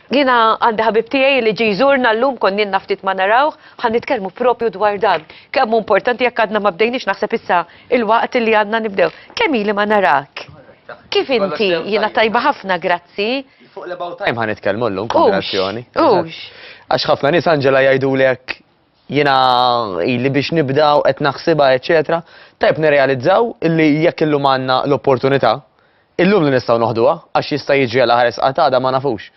Jiena għandi ħabib tiegħi li ġi jżurna llum konninna ftit ma narawh, ħa nitkellmu propju dwar dan. Kemm hu importanti jekk għadna ma bdejniex naħseb issa il-waqt li għandna nibdew. Kemm ili ma narak? Kif inti? Jiena tajba ħafna, grazzi. Fuq l-about time ħa nitkellmu llum, konversazzjoni. Għax ħafna nies Angela jgħidulek jiena ili biex nibda u qed naħsibha eċċetera, tajjeb nirrealizzaw li jekk illum għandna l-opportunità, illum li nistgħu noħduha għax jista' jiġri għal aħar isqat għada ma nafux.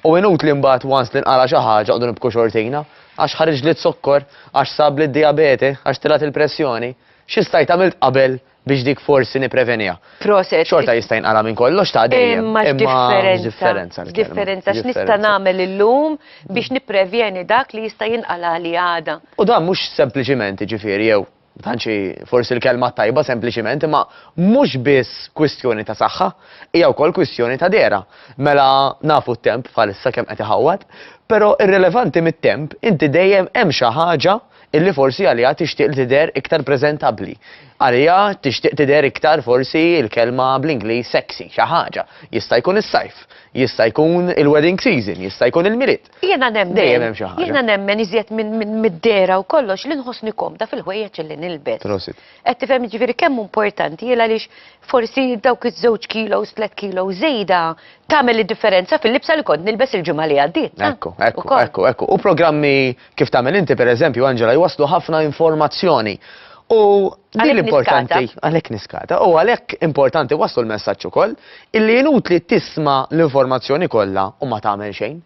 U inutli mbagħad once li nqala' xi ħaġa noqogħdu nibku xortina, għax ħariġli z-zokkor, għax sabli d-dijabete, għax tilgħet il-pressjoni, xi stajt għamilt qabel biex dik forsi nippreveniha. Proset. Xorta jista' jinqala' minn kollox ta' dejjem. Imma x'differenza. X'differenza x'nista' nagħmel illum biex nipprevjeni dak li jista' jinqala' li għada. U dan mhux sempliċiment jiġifieri jew ma tantx hi forsi l-kelma t-tajba sempliċiment imma mhux biss kwistjoni ta' saħħa, hija wkoll kwistjoni ta' dehra. Mela nafu t-temp bħalissa kemm qed iħawwad, però irrilevanti mit-temp inti dejjem hemm xi ħaġa, illi forsi għaliha tixtieq li tidher iktar preżentabbli. Għaliha tixtieq tidher iktar forsi l-kelma bl-Ingliż sexy, xi ħaġa. Jista' jkun is-sajf, jista' jkun il-wedding season, jista' jkun il-Milied. Jiena nemmen, dejjem hemm xi ħaġa. Jiena nemmen iżjed minn mid-dehra u kollox li nħossni komda fil-ħwejjeġ illi nilbes. Prosit. Qed tifhem jiġifieri kemm hu importanti hi għaliex forsi dawk iż-żewġ kilos, tliet kilos żejda tagħmel id-differenza fil-libsa li kont nilbes il-ġimgħa li għaddiet. Ekku, ekku, ekku, ekku. U programmi kif tagħmel inti pereżempju Angela jwasslu ħafna informazzjoni. U din l-importanti għalhekk niskata. U għalhekk importanti waslu l-messaġġ ukoll illi jinut li tisma' l-informazzjoni kollha u ma tagħmel xejn.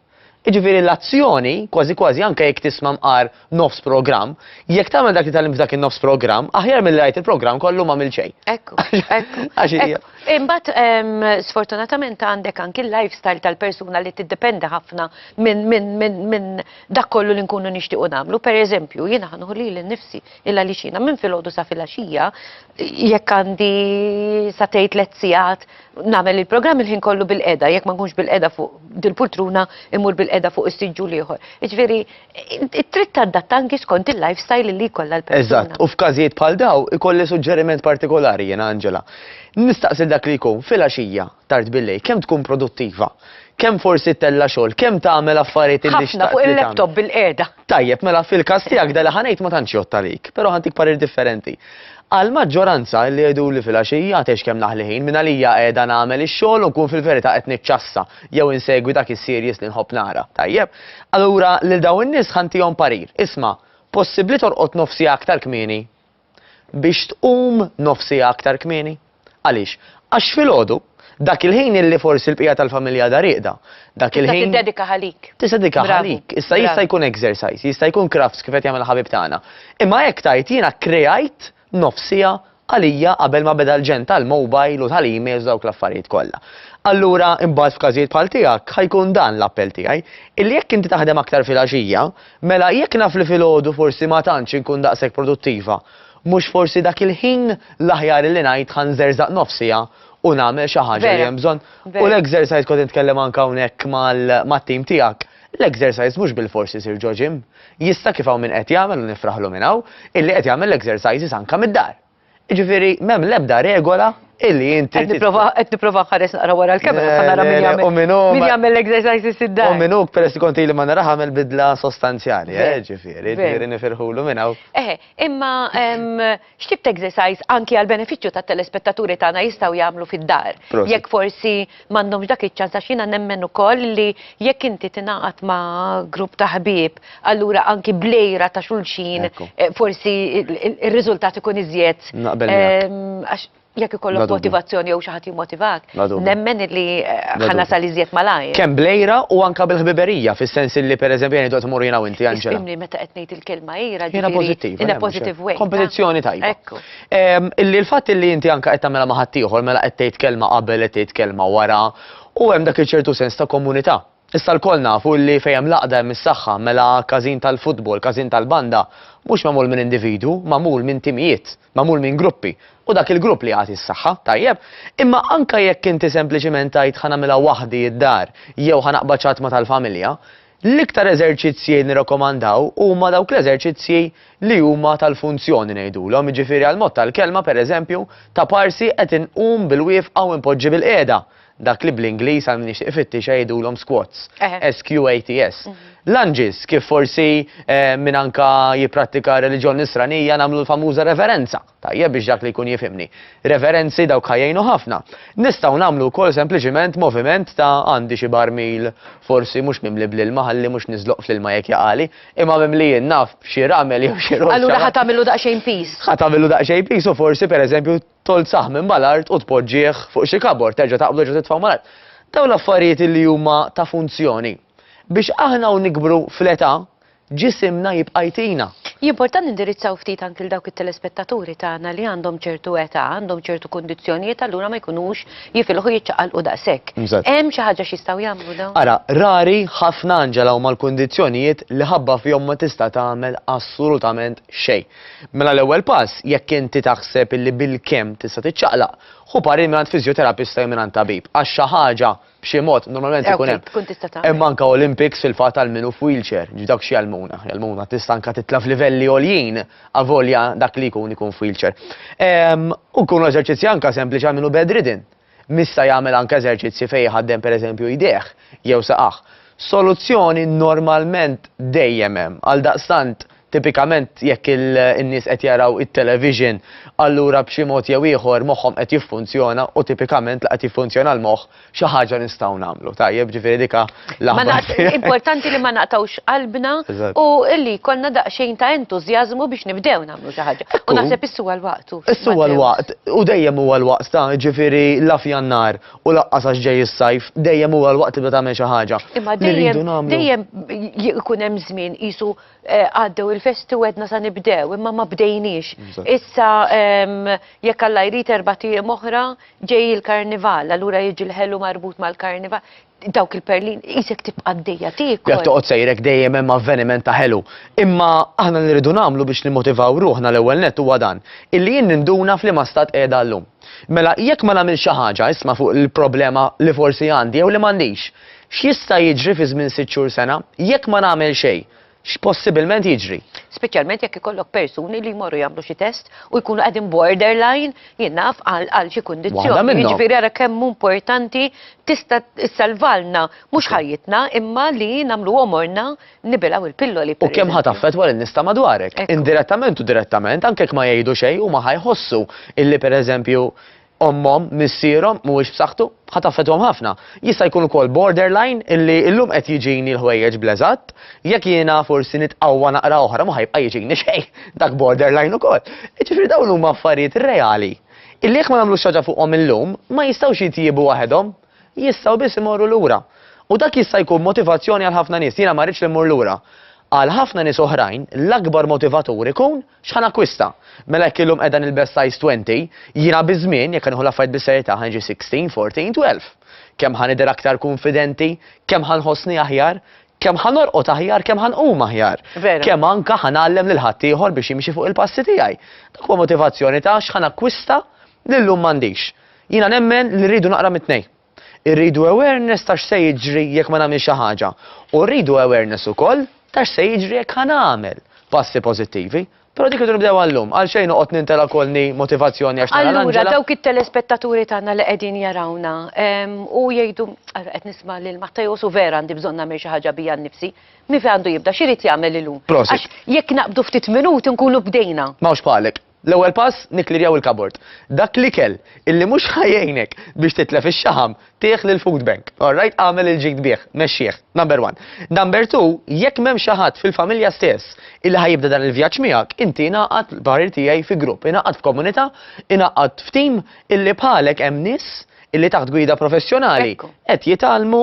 Iġifieri l-azzjoni kważi kważi anke jekk tisma' mqar nofs programm, jekk tagħmel dak li tal f'dak in-nofs programm, aħjar milli rajt il-programm kollu ma mill xejn. Ekku, ekku. Għax hija. Imbagħad ehm, sfortunatament għandek anki l-lifestyle tal-persuna li tiddependi ħafna minn dak kollu li nkunu nixtiequ nagħmlu. Pereżempju, jiena ħa nieħu lili nnifsi il għaliex jiena minn filgħodu sa filgħaxija jekk għandi sa tgħid tliet sigħat nagħmel il-programm il-ħin kollu bil-qeda, jekk ma nkunx bil-qeda fuq dil-pultruna imur bil-qeda fuq is-siġġu l-ieħor. Jiġifieri, trid tadatta anki skont il-lifestyle li jkollha l-persuna. Eżatt, u f'każijiet bħal daw ikolli suġġeriment partikolari jiena Angela. Nistaqsi dak li jkun filgħaxija tard bil-lejl, kemm tkun produttiva, kemm forsi ttella' xogħol, kemm tagħmel affarijiet illi xtaqt li tagħmel. Ħafna fuq il-laptop bilqiegħda. Tajjeb, mela fil-każ tiegħek dan li ħa ngħid ma tantx jgħodd għalik, però ħa ntik parir differenti. Għall-maġġoranza li jgħiduli fil-għaxija tgħix kemm naħli ħin, minn għalija qiegħda nagħmel ix-xogħol u nkun fil-verità qed niċċassa jew insegwi dak is-series li nħobb nara. Tajjeb, allura lil dawn in-nies ħa ntihom parir, isma', possibbli torqod nofs siegħa aktar kmieni? biex tqum nofs siegħa aktar kmieni. Għaliex? Għax filgħodu, dak il-ħin illi forsi l-bqija tal-familja għadha rieqda, dak il-ħin. Tista' tiddedika għalik. Tista' tiddedika għalik. Issa jista' jkun exercise, jista' jkun crafts kif qed jagħmel il-ħabib tagħna. Imma hekk tgħid jiena kkreajt nofs siegħa għalija qabel ma beda l-ġenn tal-mobile u tal-emails dawk l-affarijiet kollha. Allura imbagħad f'każijiet bħal tiegħek ħajkun dan l-appell tiegħi, illi jekk inti taħdem aktar filgħaxija, Mela, jekk naf li filgħodu forsi ma tantx inkun daqshekk produttiva, mhux forsi dak il-ħin l-aħjar illi ngħid ħa nżerżaq nofs siegħa u nagħmel xi ħaġa li hemm bżonn? U l-exercise kont nitkellem anke hawnhekk mat-tim tiegħek, l-exercise mhux bilfors isir ġo gym. Jista' kif hawn min qed jagħmel u nifraħlu minn hawn, illi qed jagħmel l-exercises anke mid-dar. Jiġifieri m'hemm l-ebda regola illi inti. Qed nipprova qed nipprova nħares naqra wara l-kamera sa nara min jagħmel. U min hu. Min jagħmel l-exercises id-dar. U min hu peress li kont ili ma naraha għamel bidla sostanzjali, eh, ġifieri, ġifieri nifirħulu minn hawn. Eħe, imma x'tip ta' exercise anki għall-benefiċċju tat-telespettaturi tagħna jistgħu jagħmlu fid-dar? Jekk forsi m'għandhomx dak iċ-ċans għax jiena nemmen ukoll li jekk inti tingħaqad ma' grupp ta' ħbieb, allura anki bl-għira ta' xulxin eh, forsi ir-riżultat ikun iżjed. Naqbel ehm, jekk ikollok motivazzjoni jew xi ħadd jimmotivak, nemmen li eh, ħana sal iżjed malajr. Kemm blejra u anka bil-ħbiberija, fis-sens li pereżempju jien qed tmur jiena u inti Anġela. Imni meta qed ngħid il-kelma ira ġifieri in a positive way. Kompetizzjoni tajba. Illi l-fatt illi inti anke qed tagħmilha ma' ħaddieħor mela qed tgħid kelma qabel qed tgħid kelma wara u hemm dak iċ-ċertu sens ta' komunità. Issa lkoll nafu illi fejn hemm l-għaqda hemm is-saħħa, mela każin tal-futbol, każin tal-banda, mhux magħmul minn individwu, magħmul minn timijiet, magħmul minn gruppi, u dak il-grupp li jagħti s-saħħa, tajjeb? Imma anke jekk inti sempliċiment tgħid ħa nagħmilha waħdi d-dar jew ħa naqbad xi ħadd ma' tal-familja, L-iktar eżerċizzji nirrakomandaw huma dawk l-eżerċizzji li huma tal-funzjoni ngħidulhom, jiġifieri għall-mod tal-kelma pereżempju ta' parsi qed inqum bil-wieqfa u npoġġi bil-qiegħda, dak li bl-Ingliż għal min jixtieq ifittixha jgħidulhom squats, S-Q-A-T-S. Lunges, kif forsi min anke jipprattika r-reliġjon nisranija nagħmlu l-famuża reverenza. Tajjeb biex dak li jkun jifhimni. Referenzi dawk ħa jgħinu ħafna. Nistgħu nagħmlu wkoll sempliċiment moviment ta' għandi xi barmil forsi mhux mimli bl-ilma ħalli mhux niżloq fl-ilma jekk jaqali, imma mimlijin naf b'xi ramel jew xi roċċa. Allura ħa tagħmillu daqsxejn piż. Ħa tagħmillu daqsxejn piż u forsi pereżempju tgħoll saħmin mal-art u tpoġġih fuq xi kabord, terġa' taqbdu terġa' titfgħu mal-art. Dawn l-affarijiet li huma ta' funzjoni. Biex aħna u nikbru fl-età, Ġisimna jibqa' jtina. Hija importanti nindirizzaw ftit anki 'l dawk it-telespettaturi tagħna li għandhom ċertu età, għandhom ċertu kundizzjonijiet allura ma jkunux jifilħu jiċċaqalqu daqshekk. Hemm xi ħaġa x'jistgħu jagħmlu dawn? Ara, rari ħafna Angela huma l-kundizzjonijiet li ħabba fihom ma tista' tagħmel assolutament xejn. Mela l-ewwel pass, jekk inti taħseb illi bilkemm tista' tiċċaqlaq, ħu parir mingħand fiżjoterapista jew mingħand tabib għax xi ħaġa b'xi mod, normalment ikun hemm. Tkun tista' tagħmel. Hemm anke Olympics fil-fatt għal min hu f'wheelchair, ġi dawk xi jgħallmuna. Jgħallmuna tista' anke titla' f'livelli għoljin avolja dak li jkun ikun f'wheelchair. Ehm, u jkunu eżerċizzji anke sempliċi għal min hu bedridden. Mista jagħmel anke eżerċizzji fejn jħaddem pereżempju jdejh jew saqajh. Soluzzjoni normalment dejjem hemm. Għaldaqstant Tipikament jekk in-nies qed jaraw it-television, allura b'xi mod jew ieħor moħħhom qed jiffunzjona u tipikament la qed jiffunzjona l-moħħ xi ħaġa nistgħu nagħmlu. Tajjeb, ġifieri dik l-aħbar tiegħi. Importanti li ma naqtgħux qalbna u li jkollna daqsxejn ta' entużjażmu biex nibdew nagħmlu xi ħaġa. U naħseb issu għal waqtu. Issu għal waqt u dejjem huwa l-waqt ta' ġifieri la f'Jannar u laqqas għax ġej is-sajf, dejjem huwa l-waqt tibda tagħmel xi ħaġa. Imma dejjem ikun hemm żmien qisu Eh, għaddew il-festi u għedna sa nibdew, imma ma bdejniex. Issa, jekk għalla jrid erba tiegħem oħra, ġej il-karnival, allura jiġi l-ħelu marbut mal-karnival. Dawk il-perlin, jisek tibqa d-dejja tiegħek. Jek toqgħod sejrek dejjem hemm avveniment ta' ħelu. Imma aħna nirridu nagħmlu biex nimmotivaw ruħna l-ewwel net huwa dan, illi jien ninduna f'liema stat qiegħda llum. Mela, jekk ma nagħmel xi ħaġa, isma' fuq il-problema li forsi għandi jew li m'għandix, X'jista' jiġri fi żmien sitt xhur, sena, jekk ma nagħmel xejn? X'possibbilment jiġri? Speċjalment jekk ikollok persuni li jmorru jagħmlu xi test u jkunu qegħdin borderline, jien naf, għal għal xi kundizzjoni. Waħda minnhom. Jiġifieri ara kemm hu importanti tista' ssalvalna mhux ħajjitna imma li nagħmlu għomorna nibilgħu il-pilloli per. U kemm ħa taffettwa lin-nies ta' madwarek. Indirettament u direttament, anke jekk ma jgħidu xejn, huma ħa jħossu illi pereżempju ommhom, missierhom mhuwiex b'saħħtu, ħa taffettwahom ħafna. Jista' jkun ukoll borderline illi illum qed jiġini l-ħwejjeġ bl-eżatt, jekk jiena forsi nitqawwa naqra oħra ma ħa jibqa' jiġini xejn, dak borderline ukoll. Jiġifieri dawn huma affarijiet reali illi jekk ma nagħmlux xi ħaġa fuqhom illum, ma jistgħux jitjiebu waħedhom, jistgħu biss imorru lura. U dak jista' jkun motivazzjoni għal ħafna nies, jiena ma rridx li mmur lura. Għal ħafna nies oħrajn, l-akbar motivatur ikun X'ħa nakkwista? Mela jekk illum qiegħda nilbes size 20, jiena biż-żmien, jekk ħa nieħu l-affarijiet bis-serjetà, ħa niġi 16, 14, 12. Kemm ħa nidher aktar kunfidenti, kemm ħa nħossni aħjar, kemm ħa norqod aħjar, kemm ħa nqum aħjar, kemm anke ħa ngħallem lil ħaddieħor biex jimxi fuq il-passi tiegħi. Dak huwa motivazzjoni ta' x'ħa nakkwista li llum m'għandix. Jiena nemmen li rridu naqra mit-tnejn. Irridu awareness ta' x'se jiġri jekk ma nagħmilx xi ħaġa, u rridu awareness ukoll ta' x'se jiġri jekk ħa nagħmel passi pożittivi. Però dik irridu nibdewha llum, għalxejn noqgħod nintela' kolni motivazzjoni għax nara l-anġela. Allura dawk it-telespettaturi tagħna li qegħdin jarawna u jgħidu, ara qed nisma' lil Matteos u vera għandi bżonn nagħmel xi ħaġa bija nnifsi, min fejn għandu jibda, x'irid jagħmel illum? Prosit. Għax jekk naqbdu ftit minuti nkunu bdejna. M'hawnx bħalek. L-ewwel pass, nikkklirjaw il-kabord. Dak l-ikel illi mhux ħa jgħinek biex titlef ix-xaħam, tih lill-food bank. Alright? Agħmel il-ġid bih. Mexxih. Number one. Number two, jekk m'hemmx xi ħadd fil-familja stess illi ħa jibda dan il-vjaġġ miegħek, inti ingħaqad, l-parir tiegħi, fi grupp. Ingħaqad f'komunità, ingħaqad f'team illi bħalek hemm nies illi taħt gwida professjonali qed jitgħallmu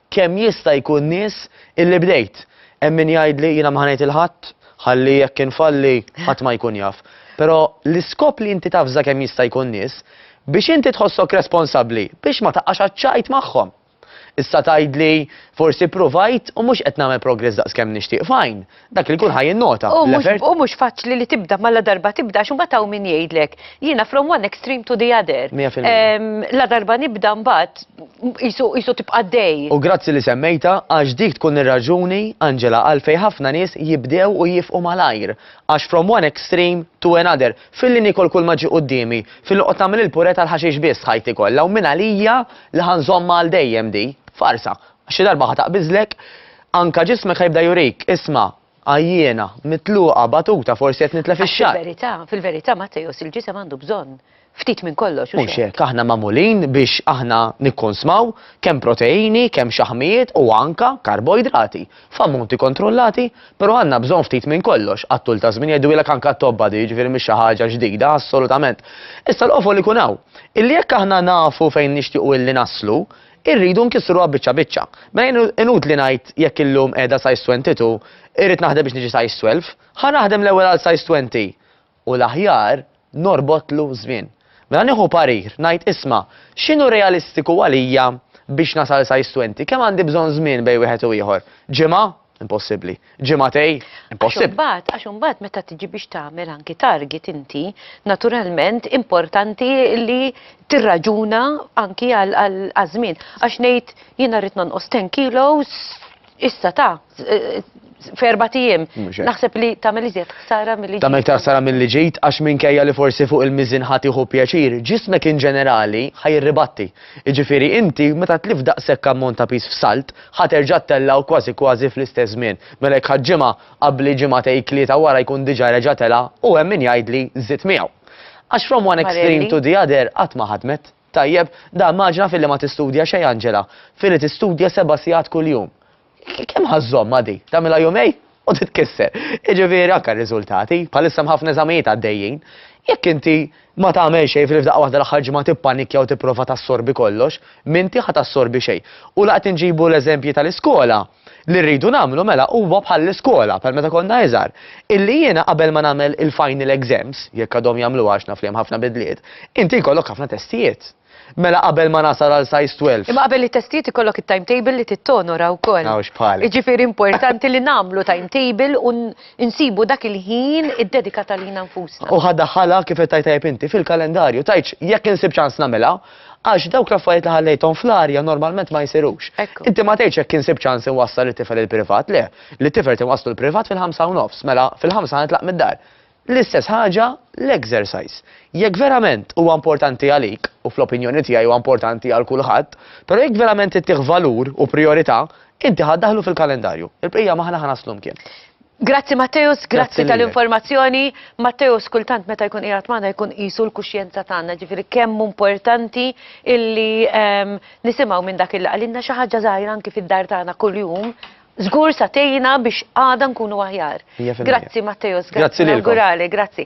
Kemm jista' jkun nies illi bdejt? Hemm min jgħidli jiena m'ħa ngħid 'il ħadd, ħalli jekk infalli ħadd ma jkun jaf. Però l-iskop li inti tavża kemm jista' jkun nies, biex inti tħossok responsabbli biex ma taqax għaċ-ċajt magħhom. Issa tgħidli forsi ppruvajt u mhux qed nagħmel progress daqs kemm nixtieq, fine, dak li jkun ħaj innota. U mhux faċli li tibda ma la darba tibda għax imbagħad hawn min jgħidlek jiena from one extreme to the other. La darba nibda mbagħad jisu tibqa' dej. U grazzi li semmejta għax dik tkun ir-raġuni Angela għalfejn ħafna nies jibdew u jifqu malajr għax from one extreme to another filli nikol kull ma ġi quddiemi filli qod tagħmel il-pure tal-ħaxix biss ħajti kollha u minn għalija li ħanżommha għal dejjem di farsa Għax xi darba ħa taqbiżlek, anka ġismek ħa jibda jurik, isma', għajjiena, mitluqa, batuta, forsi qed nitlef Għax ix-xagħar. fil-verità, fil-verità, Matteos, il-ġisem għandu bżonn ftit minn kollox, hux Mhux hekk? hekk, aħna magħmulin biex aħna nikkonsmaw kemm proteini, kemm xaħmijiet u anka karboidrati, f'ammonti kontrollati, però għandna bżonn ftit minn kollox, għat-tul taż-żmien jgħiduhielek anka t-tobba di, jiġifieri mhix xi ħaġa ġdida, assolutament. Issa l-qofol ikun hawn, illi jekk aħna nafu fejn nixtiequ illi naslu, Irridu nkissruha biċċa biċċa. Mela jien inutli ngħid jekk illum qiegħda size 22, irrid naħdem biex niġi size 12, ħa naħdem l-ewwel għal size 20 u l-aħjar norbotlu żmien. Mela nieħu parir, ngħid isma' x'inhu realistiku għalija biex nasal size 20, kemm għandi bżonn żmien bejn wieħed u ieħor? Ġimgħa? Impossibbli. Ġimatej, impossibbli. Imbagħad, għax imbagħad meta tiġi biex tagħmel anki target inti, naturalment importanti li tirraġuna anki għal żmien. Għax ngħid jiena rrid nonqos 10 kilos issa ta' eh, ferba tijiem. Naħseb li tamel iżjed ħsara mill-li ġejt. Tamel ħsara mill-li ġejt, għax minkejja li forsi fuq il-mizin ħatiħu pjaċir, ġismek in ġenerali ħaj ribatti. Iġifiri inti, meta tlif daqsek ammont ta' pis f'salt, Ħa terġa' ttella' u kważi kważi fl-istess żmien. Mela jekk ħadt ġimgħa, qabbli ġimgħatej tlieta wara jkun diġà reġa' tela' u hemm min jgħidli żidt miegħu. Għax from one extreme to the other qatt ma ħadmet. Tajjeb, da immaġina filli ma tistudja xejn Angela, filli tistudja seba' sigħat kuljum. Kemm ħa żżomm għadi? Tagħmilha jumejn? u titkisser. Jiġifieri anke r-riżultati, bħalissa hemm ħafna eżamijiet għaddejjin, jekk inti ma tagħmel xejn fil f'daqqa waħda l-aħħar ġimgħa tippanikkja u tipprova tassorbi kollox, m'inti ħa tassorbi xejn. U la qed inġibu l-eżempji tal-iskola, li rridu nagħmlu mela huwa bħall-iskola, bħal meta konna iżgħar, illi jiena qabel ma nagħmel il-final exams, jekk għadhom jagħmluha għax naf li hemm ħafna bidliet, inti jkollok ħafna testijiet. Mela qabel ma nasal għal size 12. Imma qabel it-testijiet ikollok it-timetable li tittonora wkoll. Hawnx bħali. Jiġifieri importanti li nagħmlu timetable u nsibu dak il-ħin iddedikat għalina nfusna. U ħa daħħalha kif qed tgħid tajjeb inti, fil-kalendarju, tgħidx jekk insib ċans nagħmilha, għax dawk l-affarijiet li ħallejthom fl-arja normalment ma jsirux. Ekku. Inti ma tgħidx jekk insib ċans inwassal it-tifel il-privat, le. Lit-tifel tinwasslu l-privat fil-ħamsa u nofs, mela fil-ħamsa nitlaq mid-dar. L-istess ħaġa l-exercise. Jekk verament huwa importanti għalik, u fl-opinjoni tiegħi huwa importanti għal kulħadd, però jekk verament ittih valur u prijorità, inti ħa ddaħħlu fil-kalendarju. Il-bqija m'aħna ħa naslu mkien. Grazzi Matteus, grazzi tal-informazzjoni. Matteus kultant meta jkun qiegħed magħna jkun qisu l-kuxjenza tagħna, ġifieri kemm importanti illi ehm, nisimgħu minn dak il qalilna xi ħaġa żgħira anki fid-dar tagħna kuljum Żgur sa tgħinna biex għada nkunu aħjar. Mija fil-mija. Grazzi Matteo Sgarbi. Grazzi lilkom. Nawguralek, grazzi.